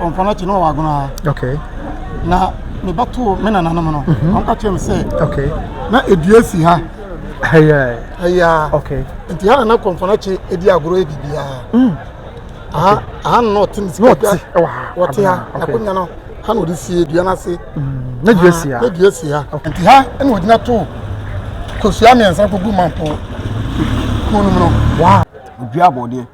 Ɔmfa no akyi na ɔwɔ agono ara. Okay. Na me ba too me nananom no. Mhm. Ɔmka kyerɛ me sɛ. Okay. Na edua si ha. Ɛyɛ. Ɛyɛ. Okay. Nti ha na na kɔmfa no akyi edi agorɔ yɛ biribiara. Mm. Aha aha na ɔte ne sika dua. Wɔte ha. Akonnwa no ha na ɔde sie dua no ase. Mm. Na dua si ha. Na dua si ha. Nti ha na ɔgyina too kosua mmiɛnsa kogu mampo kuo no mu no. Wow. Dua abɔdeɛ.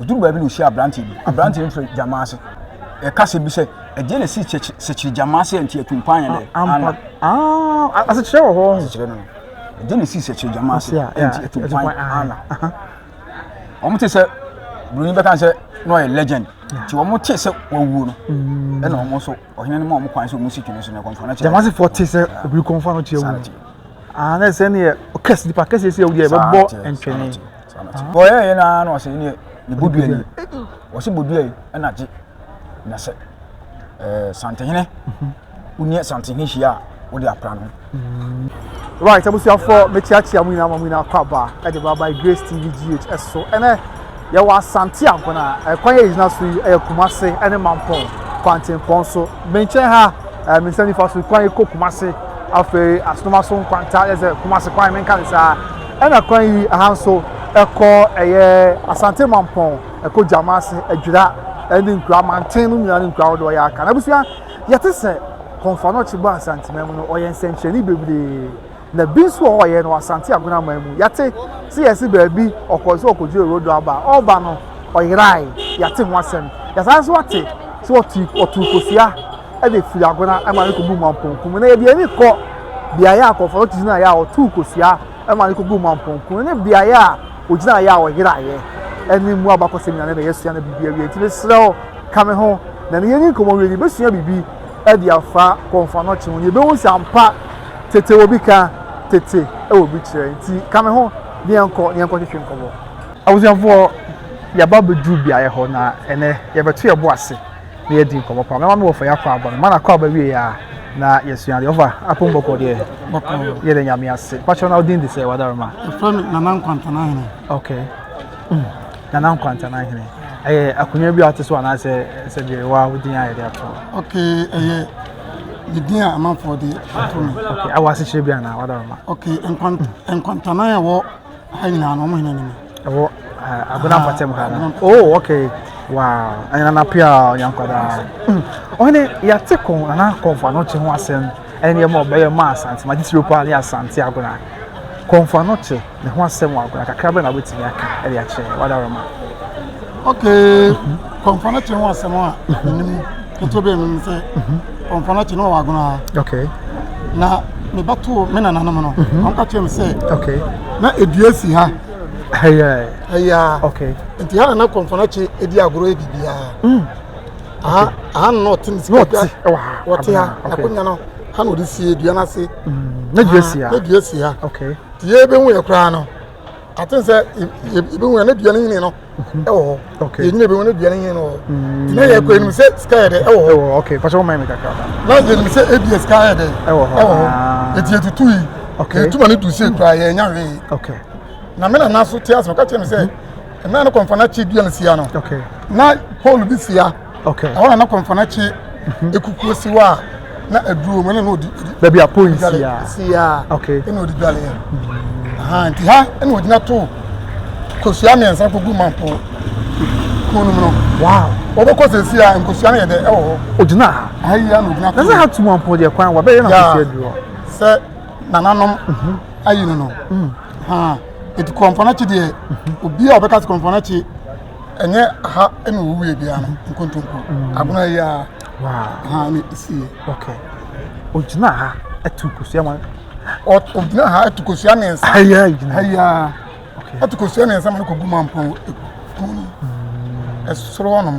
Ɔduru baabi na ɔhyia aberanteɛ bi. Aberanteɛ no frɛ gyama ase. Ɛka sɛ bi sɛ, ɛdeɛ na ɛsi sekyere gyama ase ɛnti atumpan yɛ dɛ? Ampa. Ah, asekyerɛ wɔ hɔ. Asekyerɛ no. Ɛdeɛ na ɛsi sekyere gyama ase ɛnti atumpan ana? Wɔn te sɛ buroni bɛka sɛ na ɔyɛ legend. Nti wɔn te sɛ wɔwuo no. Mm. Ɛna wɔn nso ɔhene no ma wɔn kwan sɛ wɔn si twene so na ɛkɔmfa no kyerɛ. Gyama asefoɔ te sɛ obi kɔmfa no kyerɛ wɔn. Ah, na ɛsɛ ne yɛ ɔkɛse nipa kɛse si ɛwɔ deɛ ɛbɛbɔ ntwene. Ɔyɛɛ yɛ naa na ɔsɛ ɛneɛ ne bodua ni ɔsɛ bodua yi ɛna gye na sɛ ɛɛ santehene woneɛ santehene hyia a wode apra no. Right abusuafoɔ mekyeakyea mu nyinaa ma mu nyinaa kɔ aba ɛde ba by Grace TV GH ɛso ɛnɛ yɛwɔ asante ankona ɛkwan yɛ gyina so yi ɛyɛ Kumase ɛne Mampɔn kwantempɔn so menkyɛn ha ɛɛ me nsa nifa so kwan kɔ Kumase afei asonomaso nkwanta yɛ sɛ Kumase kwan menka ne saa Ɛna kwan yi ha nso ɛkɔ ɛyɛ Asante Mampɔn ɛkɔ Gyamase, Adwira ɛne nkuro amanten no nyinaa ne nkuro ahodoɔ ɔyɛ aka. Na abusua yɛte sɛ Kɔnfoano Kyebo Ansantima mu no ɔyɛ nsɛnkyerɛnne bebree na bi nso wɔ ɔyɛ no Asante Agonaman mu. Yɛte sɛ yɛse baabi ɔkɔ nso ɔkɔdwiri Orodo aba a ɔreba no ɔyerae, yɛate ho asɛm. Yɛsan nso ate sɛ ɔtuu kosua. de firi agona ma no kɔgu mampɔnku mu. Na yɛde ani kɔ beaeɛ a nkurɔfoɔ no gyinaeɛ a wɔtoo kosua ma no kɔgu mampɔnku ne beaeɛ a wɔgyinaeɛ a wɔyeraeɛ ɛne mu abakɔsɛm nyinaa na yɛasua no biribi awie. Nti mesrɛ wo ka me ho na ne yɛni nkɔmmɔ wie no yɛbɛsua biribi de afa kɔmfa no kye ho na yɛbɛhu sɛ ampa tete wɔ bi ka tete wɔ bi kyerɛ. Nti ka me ho ne yɛnkɔ ne yɛnkɔ twetwe nkɔmmɔ. Abusuafoɔ yɛaba bɛduru beaeɛ hɔ na ɛnɛ yɛbɛto yɛbo ase. na yɛadi nkɔmmɔ paa. Mɛma me wɔfa yɛakɔ aba no. Mana kɔ aba wie a, na yɛsua adeɛ. Wɔfa apom bɔkɔ deɛ. Bɔkɔ. Yɛda nyame ase. Pakyɛ na wodin de sɛ wadaroma? Wɔfrɛ me Nana Nkwantana Hene. Okay. Mm. Nana Nkwantana Hene. Ɛyɛ akonnwa bi a wote so anaasɛ sɛ deɛ wa wodin a yɛde ato? Okay, ɛyɛ ne din a amanfoɔ de ato me. Okay, awɔ asekyerɛ bi anaa wadaroma? Okay, Nkwantana a ɛwɔ ha nyinaa no, wɔn hene ne me. Ɛwɔ eh, Agona Mpɔtam ha no. Oh, okay. Wow. Ɛna na pia yankwadaa. Hmm. Ɔne yɛate ko anaa kɔnfa no kye ho asɛm. Ɛne yɛ ma ɔbɛyɛ ma asante ma gyesiro paa ne asante agona. Kɔnfa no kye ne ho asɛm wɔ agona kakra bɛ na wobɛtumi aka ɛde akyerɛ wada rema. Okay. Kɔnfa no kye ho asɛm a menim. ketewa bi mu sɛ ɔmfa no akyi na ɔwɔ agono ha okay na mebɛtoo me nananom no mhm. ɔmka kyerɛ me sɛ okay na ɛdua si ha ɛyaa okay nti ha na na kɔmfa no akyi ɛdi agorɔ yɛ biribiaa mm. aha na ɔte ne sika wɔte ha nakonya no ha na ɔde sie dua no ase mm. na dua si ha nti yɛbɛhu yɛ koraa no aten sɛ yɛbɛhu na dua no nyini no ɛwɔ hɔ yɛnyina bɛhu na dua no nyini no wɔ hɔ na yɛkɔ yɛnim sɛ sika yɛ dɛ ɛwɔ hɔ na yɛnim sɛ ɛbia sika yɛ dɛ ɛwɔ hɔ ɛti yɛtutu yi yɛtuma no du sɛ kura yɛnya hwee na me nana so te ase meka kyerɛ me sɛ ɛna no kɔmfa no akyi dua no sia no na pole bi sia Okay. Ɛhɔ na na kɔmfana kye ekukuo si hɔ a na aduro mu ɛna na ɔdi. Baabi a pon si a. Si a. Okay. Ɛna ɔdi dwale yɛ. Aha nti ha ɛna ɔgyina to kosua mmiɛnsa kogu mampo kɔn no mu no. Wow. Wɔbɛkɔ sɛ si a nkosua no yɛ dɛ ɛwɔ hɔ. Ɔgyina ha. Aha yi a na ɔgyina to. Na sɛ ha tu mampo deɛ kwan wɔbɛyɛ na kosua aduro. Sɛ nananom mhm. ayi no no. Mm. Ha eti kɔmfana kye deɛ mhm. obi a ɔbɛka sɛ kɔmfana kye. ɛnyɛ aha ɛna ɔwuwuiɛ biara no nkontompo agona yi ara aha ne ɛsiiɛ okay ɔgyina ha ɛtu kosua ma ɔgyina ha ɛtu kosua mmiɛnsa ha yi ara gyina ha yi ara ɛtu kosua mmiɛnsa ma no kɔgu mampɔn ɛku ɛsoro hɔnom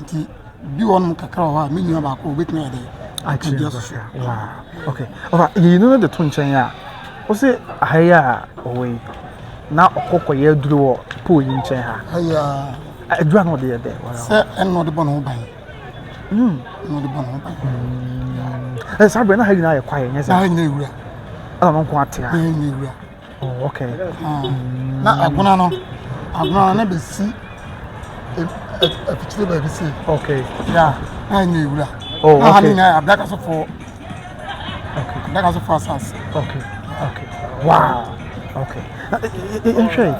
Nti bi wɔ nom kakra wɔ hɔ a me nua baako obetumi ayɛ dɛ akyerɛ so. Wow. Okay. Ɔfa yiyi no de to nkyɛn a. Wo se aha yi a ɔwɔ yi na ɔkɔ kɔ yɛ aduru wɔ pool yi nkyɛn ha. Aya. Aduru ano de yɛ dɛ. Sɛ ɛno de bɔ ne ho ban. Mm. No de bɔ ne ho ban. Mm. Eh, saa bere na ha nyinaa yɛ kwae nyɛ saa. Ha nyɛ wura. Ɛna no nko atea. Ha nyɛ wura. Oh, okay. Ah. Mm. Na agona no, agona no na be si afikyire baabi se. Okay. Yeah. Na enye wura. Oh, okay. Na ha ni nya abdaka so for. Okay. Abdaka so for asas. Okay. Okay. Wow. Okay. Na nhwe.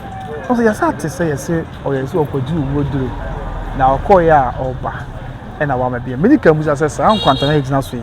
Ose yasa te se yese oyese okoji uwo duro. Na okoya oba. Ena wa mabie. Mini kan busa se sa nkwantana ejina so yi.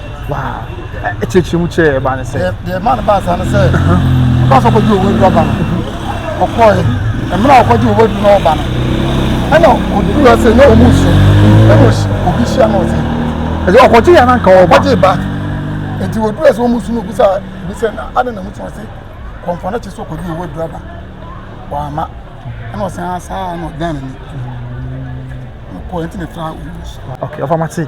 ɛkyerɛkyerɛ mu kyerɛ ɛbaa ne sɛ. deɛ ɛma no baa saa no sɛ ɔbaa sɛ ɔkɔgye owó aduru aba no ɔkɔɔɛ mmerɛ a ɔkɔgye owó aduru no ɔba no ɛna ɔduru ase na ɔmu nso ɛna obi hyia no ɔse ɛsɛ ɔkɔgye yɛ nanka ɔba ɔkɔgye ba nti ɔduru ase ɔmu nso no ɔbisa ɔbisa na adɛ na mu sɛ ɔse kɔmfɔ no kye sɛ ɔkɔgye owó aduru aba wama ɛna ɔse asaa na ɔdan n'ani ɔkɔɔɛ nti na ɛtra ɔmu nso ɔfa mate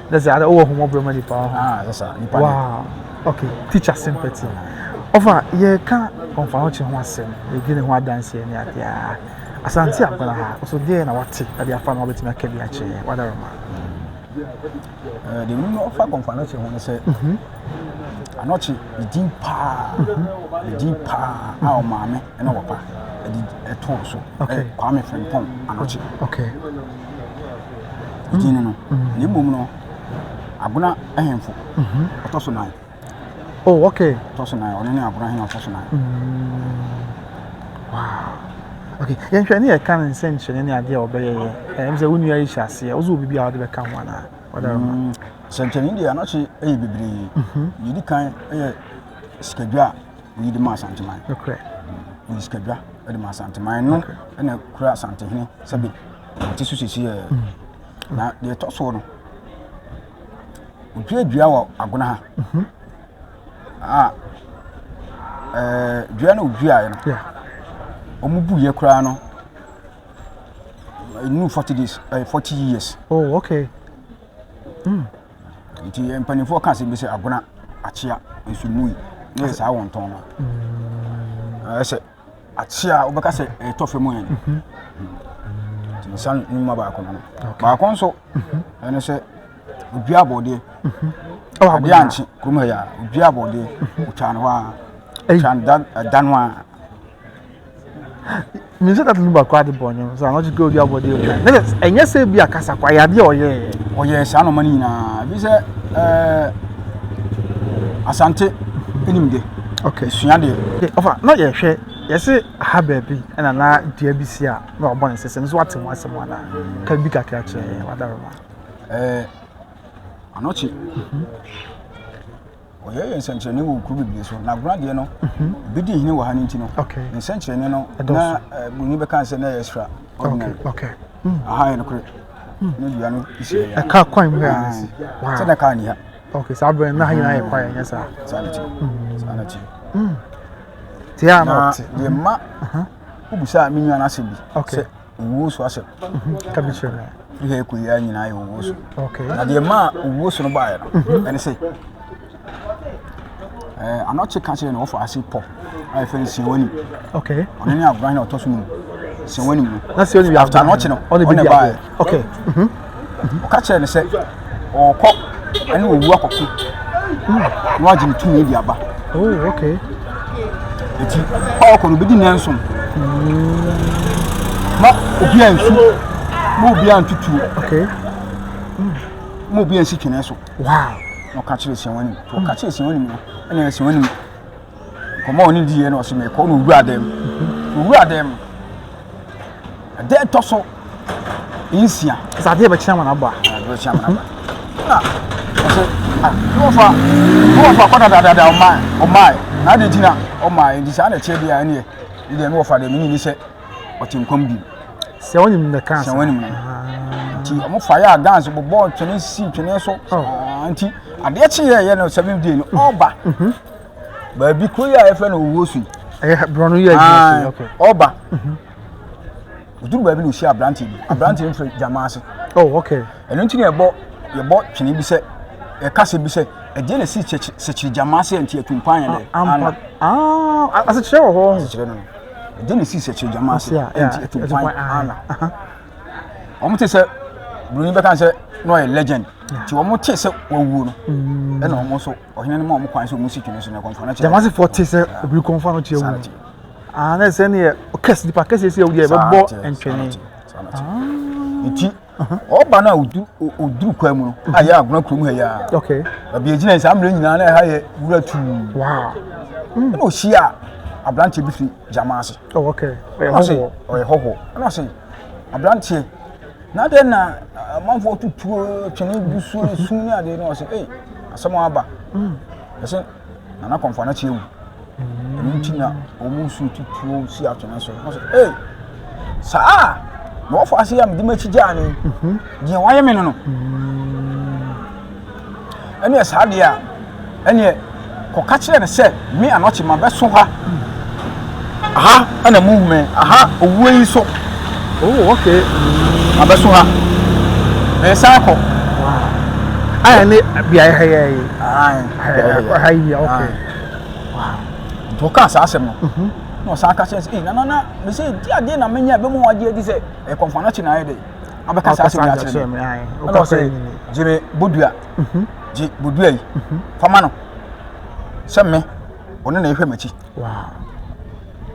na sɛ ada wɔ homo brema nipa ho ah sasa nipa wow okay teacher sympathy ɔfa yɛ ka ɔfa ho kye ho asɛm yɛdi ne ho adanse ne adeɛ a asante akwara ha ɔso deɛ na wate ɛde afa no wabɛtumi aka bi akyerɛ wadaroma deɛ memu ɔfa kɔmfa no kye ho no sɛ anɔkye medin paa medin paa a ɔmaame na wɔpa de too so. Okay. Eh, Kwame Frimpong Anokye. Okay. Gyini no. Mm. Na mmom no, Agona ahemfo. Mhm. Ɔtɔ so nan. Oh, okay. Ɔtɔ so nan. Ɔno ne Agona ahemfo ɔtɔ so nan. Mm. Wow. Okay. Yɛnhwɛ ne yɛka no nsɛnkyerɛnne ne adeɛ a ɔbɛyɛ yɛ. Eh, ɛm sɛ wo nua yi hyɛ aseɛ. Wosɛ obi bi a wode bɛka ho anaa? Mm. Sɛnkyerɛnne deɛ anokye yɛ bebree. Mhm. Yɛdi kan yɛ sikadwa a oyi de ma asanteman nokorɛ oyi sikadwa de ma asanteman no ɛna kura asantehene sɛbi ɔte so sisi yɛ na deɛ ɛtɔ soɔ no odua dua wɔ agona ha mhm. a ɛɛ dua na oduaeɛ no wɔn bu yɛ koraa no ɛnu forty days ɛɛ forty years. oh okay. Mm. Nti yɛn mpanimfoɔ ka asɛm bi sɛ agona akyea nso mui na yɛ saa wɔntɔn no. Ɛyɛ sɛ akyea wobɛka sɛ ɛtɔ fam yɛn. Nti nsa nnwuma baako no. Baako nso ɛne sɛ odua abɔdeɛ. Adeɛ ankye kurom ha yɛ a odua abɔdeɛ otwa no hɔ a. Otwa no da no a. Menim sɛ tata no mu baako ade bɔɔ ne ho so a, ɔno kura odi abɔde mu. Ne sɛ ɛnyɛ sɛ bi akasa kwa yɛ adeɛ a ɔyɛɛ. Ɔyɛɛ saa nɔma no nyinaa. Bi sɛ ɛɛ Asante ɛnim de. Okay. Sua deɛ. Okay, ɔfa na yɛhwɛ yɛse aha baabi ɛna na dua bi si a na ɔbɔ ne sese no so wate ho asɛm anaa? Ka bi kakra kyerɛ yɛn wadaroma. Ɛɛ anɔkye. Mm -hmm. Wɔyɛ yɛ nsɛnkyerɛnne wɔ kuro bebree so. Na Agona deɛ no, ebi di hene wɔ ha no nti no, ne nsɛnkyerɛnne no na buroni bɛka sɛ na ɛyɛ extra ordinary. Aha yɛ nokorɛ. Ne dua no si ha. Ɛka kwan mu ha. Sɛ na kaa ni ha. Okay, saa bɛn na ha nyinaa yɛ kwan yɛ saa. Saa na ti. Saa na ti. Tia na ɔte. Yɛ mma. Obusa mi nua na asɛm bi. Okay. owuo so asɛm ka bi kyerɛ me firi ha ɛkɔ yia nyinaa yɛ owuo so na deɛ maa owuo so no baeɛ no ɛne sɛ anɔkye ka kyerɛ no wɔfa ase pɔ a yɛfrɛ no siawani ɔno ne agoran na ɔtɔ so no mu siawani mu no after anɔkye no ɔne baeɛ Nti ɔka kyerɛɛ no sɛ ɔrekɔ ɛne owu akɔko hmm. na wagye ne tumi de aba. Oh, okay. Nti ɔrekɔ no obedi nnanson. Na obi a nsu na obi a ntutuo. Okay. Hmm. Na obi a nsi twene so. Wow. Na ɔka kyerɛ siawa nim. Ɔka kyerɛ siawa nim no ɛna siawa nim. Nkɔmmɔ a ɔne diiɛ no ɔse mekɔ na owura dan mu. Owura dan mu. Ɛda ɛtɔ so nsia. Sɛ adeɛ bɛkyerɛ amana aba. Adeɛ bɛkyerɛ amana aba. Na ɔse ah wɔfa wɔfa kɔ dadadada ɔmaa ɔmaa na ade gyina ɔmaa ɛdi saa na ɛkyerɛ bi a ɛneɛ ne deɛ ne wɔfa deɛ menyi ne sɛ ɔte nkɔm bi. Sɛ wɔn nim na kan sa. Sɛ wɔn nim na. Ah. Nti wɔn fa yɛ a dance bɔbɔ twene si twene so. Oh. Ah, nti adeɛ kyeeɛ yɛ no seven day no ɔba. Mm-hmm. baabi kuro yi a yɛfrɛ no owuo so yi borɔno yɛ adwuma so ɔba ɔduru baabi na ɔhyia aberanteɛ bi aberanteɛ no firi gyama ase oh, ɛno nti na yɛbɔ yɛbɔ twene bi sɛ ɛka sɛ bi sɛ ɛdeɛ na ɛsi sɛkyiri gyama ase nti atumpan yɛ dɛ ana asekyerɛ wɔ hɔ asekyerɛ no ɛdeɛ na ɛsi sɛkyiri gyama ase nti atumpan ana wɔn te sɛ buroni bɛka sɛ na ɔyɛ legend nti wɔn te sɛ wɔwuo no ɛna wɔn nso ɔhene no ma wɔn kwan sɛ wɔn si twene so na ɛkɔmfo no kyerɛ. jamasi fɔ te sɛ obiri kɔmfo ano kyerɛ wɔn aa na ɛsɛ ne yɛ kɛse nipa kɛse si ɛwudi yɛ bɛ bɔ ntwene. eti ɔba no a oduru kwan mu no a yɛ agona kurom ha yia baabi egyina yi saa mmerɛ nyinaa na ɛha yɛ wura tuu ɛna ohyia aberanteɛ bi fi jamasi ɔyɛ hɔhoɔ ɛna ɔsɛ aberanteɛ. na dɛn na amanfoɔ tutuo twene gu so sum ne adeɛ no ɔsɛ ei asɛm aba ɛsɛ nana kɔmfa no kyeɛ wu ɛno nti na ɔmu su tutuo si atwene so ɔsɛ ei saa na wɔfa ase a mede m'akyi gyaa no deɛ wayɛ me no no Ɛneɛ saa deɛ a, ɛneɛ kɔka kyerɛ no sɛ, Me anɔkye mabɛso ha, aha na monhu me, aha owuo yi so, oh okay, mabɛso ha, meresan akɔ. Wow. Ayɛ ne beaeɛ ha yɛ yi. Ayɛ ha yi, okay. Wow. Nti ɔka saa asɛm no, mhm. na ɔsan ka kyerɛ sɛ, ee, nana na, mesɛ, di adeɛ na menya, ɛbɛmu wagye adi sɛ, ɛkɔmfana kye na ayɛ dɛ. abɛka saa asɛm yi akyerɛ me ɛna ɔsɛ gye me bodua mhm. gye bodua yi mhm. fama no sɛ me ɔno na ɛhwɛ m'akyi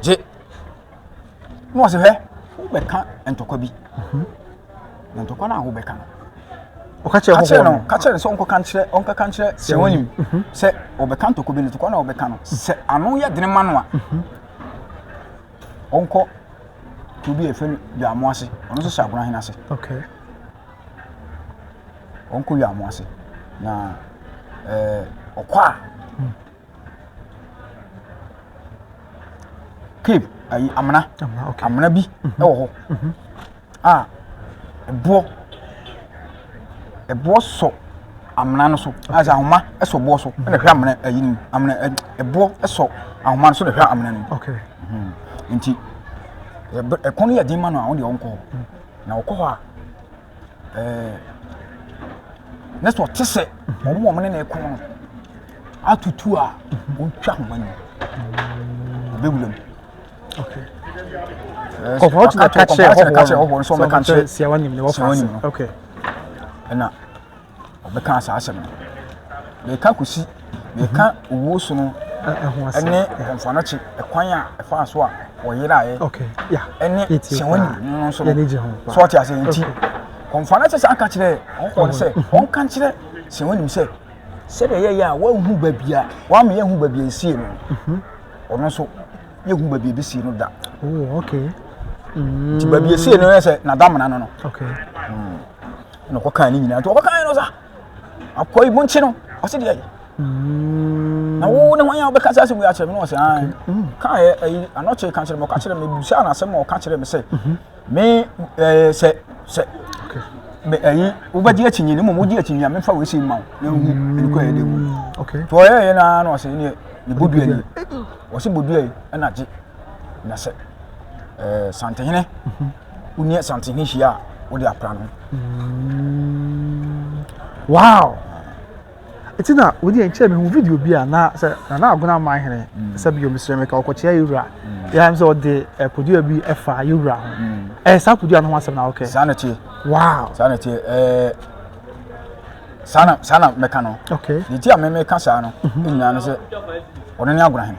gye na ɔsɛ hwɛ wobɛka ntɔkwa bi mhm. na ntɔkwa no a wobɛka no ɔka kyerɛ hohoɔ no ka kyerɛ no sɛ ɔnkɔka nkyerɛ ɔnkɔka nkyerɛ sɛ wɔnim sɛ ɔbɛka ntɔkwa bi no ntɔkwa no a ɔbɛka no sɛ ano yɛ dene ma no a ɔnkɔ kuro bi a yɛfrɛ no Yaamo ase ɔno nso hyɛ Agona hene ase okay ɔnkɔ Yaamo ase na ɛɛ ɔkɔ a hmm. Cape ayi amena amena bi mhm. ɛwɔ hɔ. Mhm. a ɛboɔ ɛboɔ sɔ amena no so ayɛ sɛ ahoma sɔ boɔ so ɛna hwɛ amena ayi no amena ɛboɔ sɔ ahoma no so na hwɛ amena no okay hmm. nti ɛkɔn yɛ den ma no a wɔn deɛ wɔn kɔ hɔ na wɔkɔ hɔ a ɛɛ ne sɛ ɔte sɛ wɔn wɔn ne na ɛkɔn no atutu a wɔn twa ahoma no ɔbɛwura mu. Okay. Eh, oh, how to catch it? Catch it, catch it. Oh, so me catch it. See, I want him. What for? Okay. And now, we can't say asem. We can't kusi. We can't uwo sunu. ɛne mfanakyi ɛkwan a ɛfa so a wɔyera yɛ ɛne sɛ wɔn nyina no nso no so ɔte ase nti mfanakyi sɛ aka kyerɛ ɔkɔɔ sɛ ɔnka kyerɛ sɛ wɔn nim sɛ sɛdeɛ yɛyɛ a wɔahu baabi a wɔama yɛahu baabi a esie no ɔno nso yɛhu baabi a ɛbɛsie no da oh, okay. mm. nti baabi ɛsie no yɛ sɛ nadamena no no okay. mm. na ɔkɔkaa ne nyinaa nti ɔkɔkaa no sa akɔi monkye no ɔse deɛ mm. na wo ne hwan a wobɛka sɛ asɛm yi akyerɛ me no ɔsɛ kaɛ anɔkyere ka kyerɛ me ɔka kyerɛ me busaa no asɛm ma ɔka kyerɛ me sɛ mm-hmm. me ɛɛ sɛ sɛ me ɛyi wobɛgye akyinnye no mmom wogye akyinnye a mefa wɔasi ma wo na wohu ɛnokɔ ɛyɛ dɛ mu nti ɔyɛyɛ no ara na ɔsɛ neɛ ne bodua yi ɔsɛ bodua yi ɛna gye na sɛ ɛɛ santehene woneɛ santehene hyia a wode apra no wow Eti na wodi yɛn kyɛn mehu video bi a na sɛ Nana Agona man hene mm. sɛ bio mesrɛ meka ɔkɔkyea yɛwura mm. yɛam sɛ ɔde eh, podua bi ɛfa eh, yɛwura ho mm. ɛyɛ eh, saa podua no ho asɛm na wokɛ saa na tie wow saa na tie ɛɛ saa na saa na mɛka no okay ne ti a mɛmɛka saa no mhm. nyinaa no sɛ ɔno ne Agona hene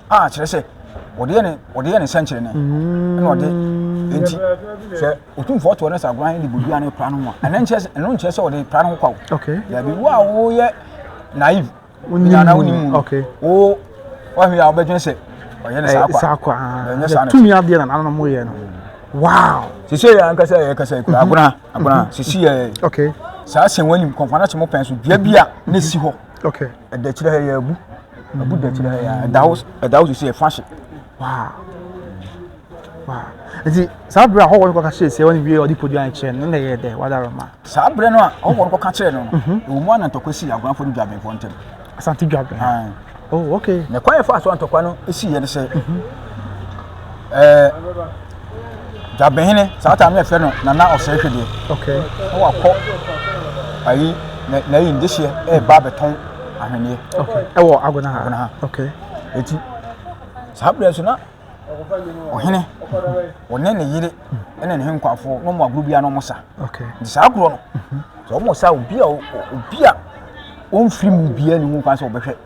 a kyerɛ sɛ wɔde yɛ ne wɔde yɛ ne nsɛnkyerɛnne ɛna ɔde nti sɛ otumfoɔ toɔ ne sɛ agoran ne bodua ne pra no mu a ɛno nkyerɛ sɛ ɛno nkyerɛ sɛ ɔde pra no ho kwa o dabi wo a woyɛ naive nyana wo ni mu no wo wɔhwɛ a wobɛdwen sɛ ɔyɛ ne saa kwa saa kwa ɛnyɛ saa na tumi adeɛ na nananom yɛ no wow sisi yɛ ankasa yɛ kasa yɛ kura agona agona sisi yɛ okay saa sɛn wɔn anim kɔnfana sɛn mo pɛn so dua bi a ne si hɔ okay. ɛda kyerɛ ha yɛ abu abu da kyerɛ ha yɛ ɛda wo ɛda wo sisi ɛfa hye waa waa nti saa bere a hɔwɔ no kɔka kyerɛ sɛ wɔn wie ɔde podi ankyerɛ no na ɛyɛ dɛ wada roma saa bere no a hɔwɔ no kɔka kyerɛ no mhm. no wɔn mu anantɔkwa si agoranfo no dwabenfo ntɛm asante dwaben oh okay na kwan yɛ fa so antɔkwa no si yɛ no sɛ mhm. ɛɛ dwabehene saa taa no yɛfrɛ no nana ɔsɛe hwedeɛ okay na wakɔ ayi na ayi ndehyeɛ ɛreba abɛtɔn ahweneɛ okay ɛwɔ agona ha agona ha okay eti saa berɛ so na ɔhene ɔne ne yere ɛne ne henkwafoɔ na ɔmo agorɔ biara na ɔmo sa okay nti saa agorɔ no sɛ ɔmo sa obi a obi a ɔmfiri mu biara ne mu kwan sɛ ɔbɛhwɛ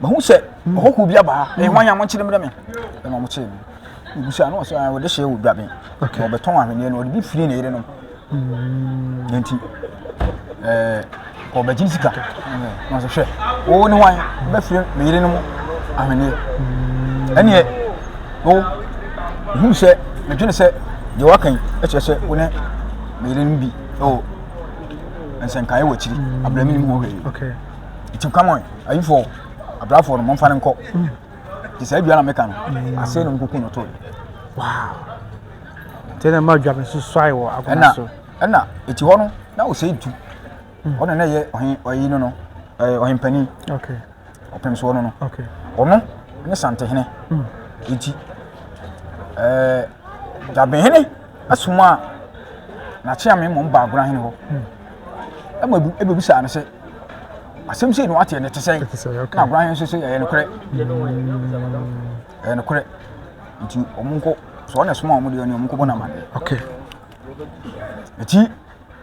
Mahu sɛ ɔhɔho bi aba ha. Ɛyɛ hwan a monkyere mmerɛ me? Ɛna wɔkyere no. Mebusa no sɛ wɔde hyɛ wɔ dwaben. Okay. Wɔbɛtɔn ahweneɛ no, wɔde bi firi ne yerenom. Mm. Nti, ɛɛ, wɔbɛgye sika. Na wɔsɛ hwɛ, wo ne hwan bɛfiri me yerenom ahweneɛ. Mm. Ɛneɛ, wo, mehu sɛ, medwene sɛ, deɛ waka yi, ɛkyerɛ sɛ wo ne me yerenom bi ɛwɔ nsɛnkaeɛ wɔ akyiri. Mm. Abrɛ me ne mu hɔ hwɛ yi. Okay. Nti, come on. ayifo abrafo no momfa no nkɔ nti saa dua na meka no mm. asɛe no mkuku no toe nti na ma dwa me so suae wɔ akoma so ɛna ɛti hɔ no na ɔsɛe du mm. ɔne na ɛyɛ ɔyi no no ɔhempani ɔpem soɔ no no ɔno ne santehene mm. nti dwabenhene asoma a nakyeame mmom baagona hene hɔ ɛma ɛbɛbisaa no sɛ asɛm sei na wateɛ no te sɛn na agora he nso sɛ ɛyɛ nokorɛ ɛyɛ nokorɛ nti ɔmo nkɔ sɛ ɔna soma ɔmo deɛ ɔne ɔmo nkɔbɔ no amaneɛ ɛti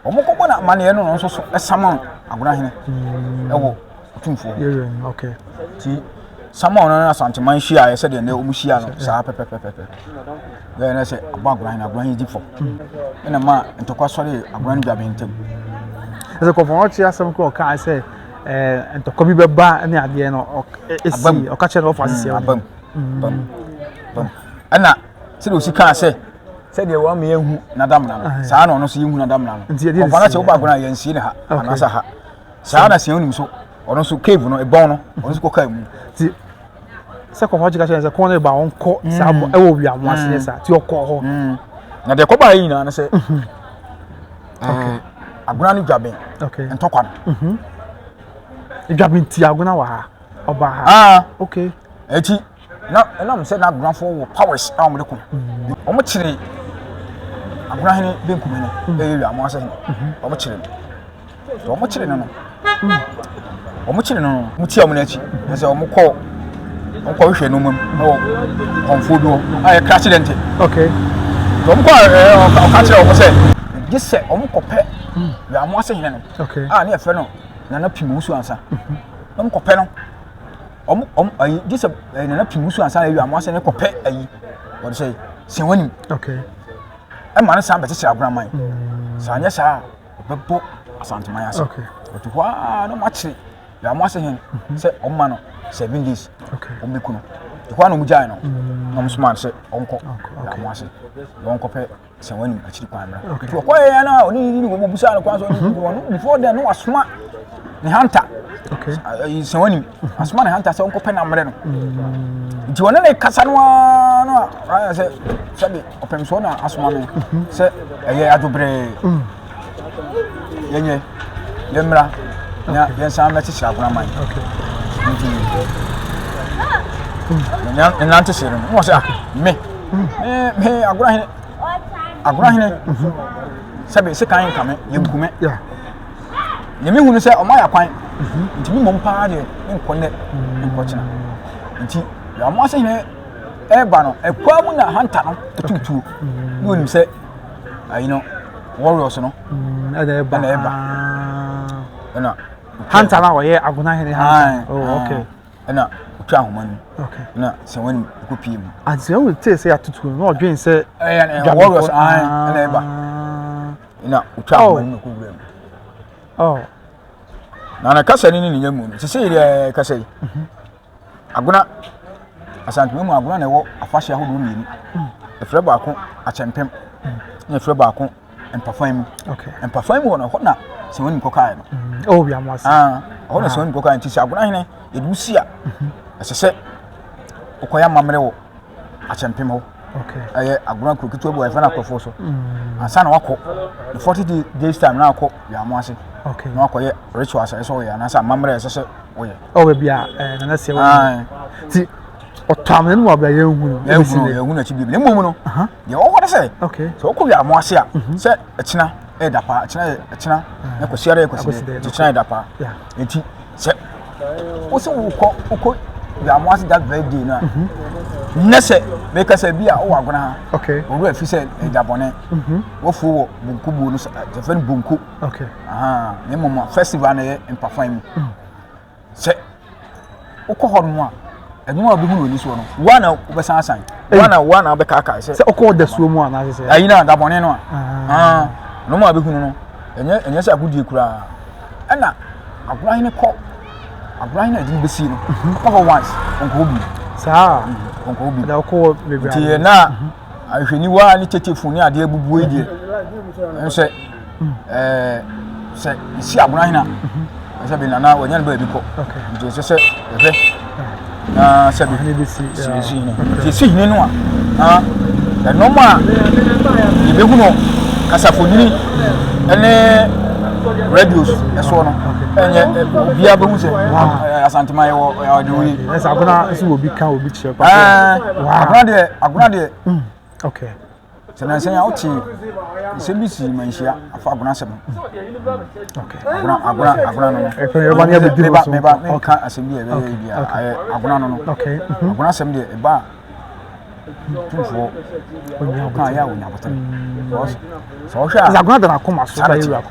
ɔmo kɔbɔ no amaneɛ no nso so ɛsama agora hene ɛwɔ ɔtumfoɔ hɔ nti sama ɔno no asanteman hyiaeɛ sɛdeɛ nnɛ ɔmo hyia no saa pɛpɛpɛpɛ yɛyɛ na sɛ ɔbɔ agoran na agoran yi gye fɔ ɛna ma ntɔkwa sɔre agoran no dwabe ntam ɛsɛ kɔfɔ ɔkye asɛm kɔ ɔkaa sɛ ɛɛ ntɔkwa bi bɛba ne adeɛ no ɛsi e, ɔka kyerɛ no ɔfa asisi mm, abam bam bam ɛna sɛdeɛ ɔsi kaa sɛ sɛdeɛ wɔn ama yɛhu n'adamena no ah, saa na ɔno nso yɛhu n'adamena no kɔfɔ no sɛ wobɔ agoran yɛn sie ne ha anaasɛ ha saa na sɛ onim so ɔno nso cave no ɛbɔn no ɔno nso kɔ kaa mu sɛ kɔkɔɔ kyeka kyerɛ sɛ kɔn no ba wɔn kɔ saa bɔ ɛwɔ wia wɔn ase ne saa ti ɔkɔ hɔ na deɛ kɔba yɛ nyinaa ne sɛ ɛɛ agona no dwaben ntɔkwa no dwaben ti agona wɔ ha ɔba ha aa okay ɛti na ɛnam sɛ n'agonafoɔ wɔ powers a wɔn de ko wɔn kyerɛ agona hene benkum hene ɛyɛ wia wɔn ase hene wɔn kyerɛ no. nti wɔn kyere no no wɔn kyere no no wɔn tia wɔn n'akyi na sɛ wɔn kɔ wɔn kɔ hwehwɛ nneɛma mu wɔ kɔnfo bi hɔ a yɛ krakye dɛ nti okay wɔn kɔ ɛɛ ɔka kyerɛ wɔn sɛ gye sɛ wɔn kɔ pɛ yɛ amu ase hene no okay a ne yɛ fɛ no nana pii mu su ansa wɔn kɔ pɛ no wɔn wɔn ayi gye sɛ nana pii mu su ansa yɛ amu ase ne kɔ pɛ ayi wɔn sɛ sɛ wɔn nim okay ɛma ne san bɛkyekyere agoraman saa nyɛ saa. ɔbɛbɔ asanteman ase ɔte hɔ aa na ɔmakyere yɛ ɔmo ase hen sɛ ɔma no seven days ɔmo bɛku no te hɔ a na ɔmo gyae no mm. na ɔmo soma sɛ ɔnkɔ yɛ ɔmo ase na ɔnkɔ pɛ sɛ wɔn anim akyiri kwan no te ɔkɔ yɛ yɛ na ɔne yiri wɔn busa no kwan so ɔne yiri wɔn before then no wasoma ne hanta sɛ wɔn anim Asoma ne hanta sɛ ɔnkɔpɛ no ammrɛ no. Nti ɔne ne kasa no ara no a ayɛ sɛ sɛde ɔpɛmsoɔ na asoma me sɛ ɛyɛ adwobrɛɛ. Yɛnyɛ yɛmmra na yɛnsan mɛkyekyere agonaman. Nti nnante hyee no no wɔ sɛ ah, me me agorahene agorahene sɛbe sekan nka me yɛnkume Deɛ mehu no sɛ ɔma yɛ kwan. Mhm. Nti me mmom paa deɛ menkɔ nɛ menkɔkyena. Mhm. Nti deɛ ɔmo ase hene ɛreba no ɛkwa mu na hanta no ɛtutuo. Mhm. Ne onim sɛ ayi no warriors no ɛna ɛba. Ɛna ɛba. Ɛna hanta no a ɔyɛ agona hene hanta. Oh okay. Ɛna otwa ahoma no. Okay. Ɛna sɛ wɔn nim ɛkɔ pie mu. Adi sɛ wɔn tee sɛ yɛatutuo no na ɔdwen sɛ. Ɛyɛ warriors ɛna ɛba. na ɔtwa oh. ahoma no kɔ wura mu oh. na na kasa no ne ne nya mu no sɛ sɛ yɛ kasa yi mhm. agona asantuma mu agona na ɛwɔ afahyɛ ahodoɔ mmienu mm. ɛfrɛ baako akyɛmpem mm. na ɛfrɛ baako mpafan mu mpafan mu wɔ no hɔ na sɛ wɔn nkɔ kaa no mm. oh, ah, hɔ na sɛ wɔn nkɔ kaa no nti sɛ agona hene yɛde wusi a mhm. ɛsɛ sɛ ɔkɔyɛ amammerɛ wɔ akyɛmpem hɔ ɛyɛ agorɔ kuro ketewa bi wɔ yɛfrɛ no akɔfoɔ so mm. ansa na wakɔ the forty days time na akɔ yɛamo ase na wakɔyɛ ritual sɛ ɛsɛ ɔyɛ anaasɛ amammerɛ ɛsɛ sɛ ɔyɛ ɔwɔ bi a nana sɛ wɔn ti ɔtɔ amena no wɔ abira yɛn hu no yɛn hu no yɛn hu no akyi bi na mmom no deɛ ɔwɔ no sɛ sɛ ɔkɔ yɛamo ase a mhm. sɛ ɛkyina ɛda paa ɛkyina ɛkyina ɛkɔsi ara ɛkɔsi ɛkyina ɛda paa Eti sɛ wosi wokɔ wokɔ yamu ase that very day na mhm. nnɛ sɛ mɛka sɛ bi a wowɔ agona ha owura fi sɛ ɛgya bɔne mhm. wofuo wɔ bonku buo no sɛfɛ no bonku na mmom festival no yɛ mpafa mu mm. sɛ wokɔ hɔ nom a ɛno a wobɛhunu w'ani soɔ no woa na wobɛsan asan woa na woa na wobɛkaakae sɛ sɛ wokɔ dasuo mu anaasɛ sɛ ayi no a dabɔne no a ah. ah, nom a bɛhunu no ɛnyɛ ɛnyɛ sɛ agodie koraa ɛna agoran no kɔ agoran no ɛdene bɛsie no mhm. kɔ hɔ once ɔnkɔ bi saa mhm, ɔnkɔ bi na wokɔ bebree nti na ahwɛniwa ne tetefo ne adeɛ abubuo yi deɛ ɛno sɛ ɛɛ sɛ si abona hena ɛsɛ bi na na wɔnyɛ no baabi kɔ nti ɛsɛ sɛ ɛhwɛ na sɛ bi si si no nti si hene no a na ɛnɔm a yɛbɛhu no kasafonini ɛne radios ɛsoɔ no ɛnyɛ obiara bɛhu sɛ asantema yɛ wɔ ɔde wei ɛsɛ agona nso wɔ bi ka obi kyerɛ pa agona deɛ agona deɛ mm, okay sɛ nansa yi a wote nsɛm bi si manhyia afa agona asɛm agona agona agona no meba meba menka asɛm bi a ɛbɛyɛ bi a agona no no agona asɛm deɛ ɛba a tumfoɔ ɔka yɛ a wɔnya botan sɛ ɔhwɛ a agona da no akoma so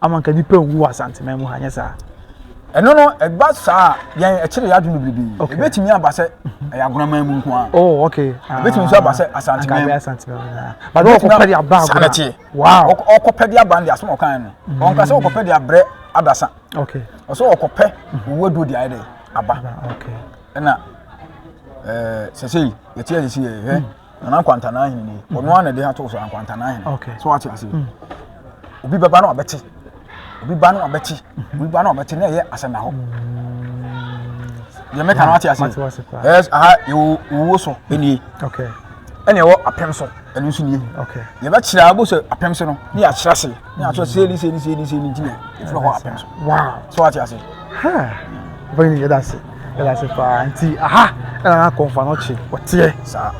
ama nka nipa nwu wɔ asanteman mu ha nyɛ saa ɛno no ɛba saa yɛn ɛkyerɛ yɛ adwene biribi okay. ɛbɛtumi aba sɛ ɛyɛ agonaman mu nko a oh, okay. Ah. ɛbɛtumi nso aba sɛ asanteman mu ɔkɔpɛde aba agona ɔkɔpɛde aba no de asɛm ɔkan no mm. ɔnka sɛ ɔkɔpɛde abrɛ adasa ɔsɛ ɔkɔpɛ owuo duo de ayɛ dɛ aba ɛna sɛsei yɛteɛ sɛsei yɛhwɛ nana nkwantana ahene ni ɔno mm-hmm. ara na ɛde ato so nkwantana ahene so wate ase mm. obi bɛba na ɔbɛte obi ba na ɔbɛte mm-hmm. obi ba na ɔbɛte na ɛyɛ asɛm na hɔ deɛ mɛka no wate ase ɛyɛ aha ɛwɔ owuo so ɛnie ɛna ɛwɔ apɛm so ɛno nso nie yɛbɛkyerɛ abɔ sɛ apɛm so no ne yɛakyerɛ ase ne asɔ se ni se ni se ni se ni ntina ɛfiri hɔ apem so so ate ase bɛn yɛ da se yɛ da se paa nti aha ɛna na kɔnfa no kye ɔteɛ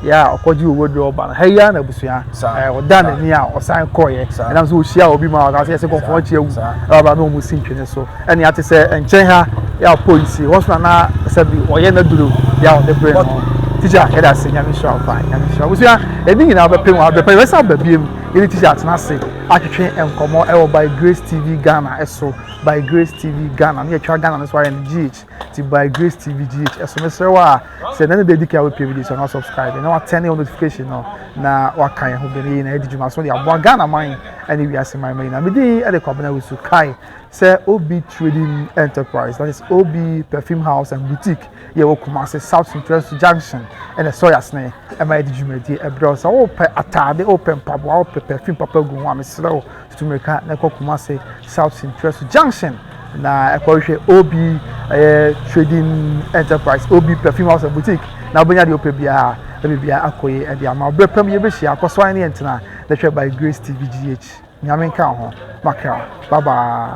yɛ a ɔkɔgye owó de ɔba no ha yi ara na abusua ɔda n'ani a ɔsan kɔɔyɛ ɛnam sɛ ɔhyia obi ma ɔka sɛ yɛsɛ kɔnfa no kye awu ɛba na ɔmo si ntwene so ɛne ate sɛ nkyɛn ha yɛ a polisi hɔ so na na sɛ bi ɔyɛ na duro yɛ a ɔde brɛ no tikya yɛ da se nyame hyira wo paa nyame hyira wo abusua ɛni nyinaa bɛpem wɔ abɛpɛ yɛ bɛsa abɛbiem Yɛne Teacher atena ase atwetwe nkɔmmɔ wɔ By Grace TV Ghana so, By Grace TV Ghana, na yɛtwa Ghana no so ayɛ no GH, ti By Grace TV GH so. Mesrɛ wo a, sɛ na ne da adi kan a wopie video so na subscribe na watɛne wo notification no na waka yɛn ho bɛn yɛn na yɛde dwuma so de aboa Ghana man ne wiase man ma nyinaa. Medin de Kwabena Wusu, kae sɛ OB Trading Enterprise, that is OB Perfume House and Boutique. yɛ wɔ Kumasi South Central Su Junction ne Sawyers no ma yɛde dwumadie brɛ wo. Sɛ wopɛ ataade, wopɛ mpaboa, wopɛ perfume papa gu ho a, mesrɛ wo tutu mmirika na ɛkɔ Kumasi South Central Su Junction na ɛkɔhwɛ OB ɛyɛ trading enterprise, OB perfume house and boutique na wobɛnya deɛ wopɛ biara ɛbɛ biara akɔ yi ɛde ama berɛ pam yɛbɛhyia akɔ so ne yɛntena na hwɛ by Grace TV GH nyame nka ho makra bye bye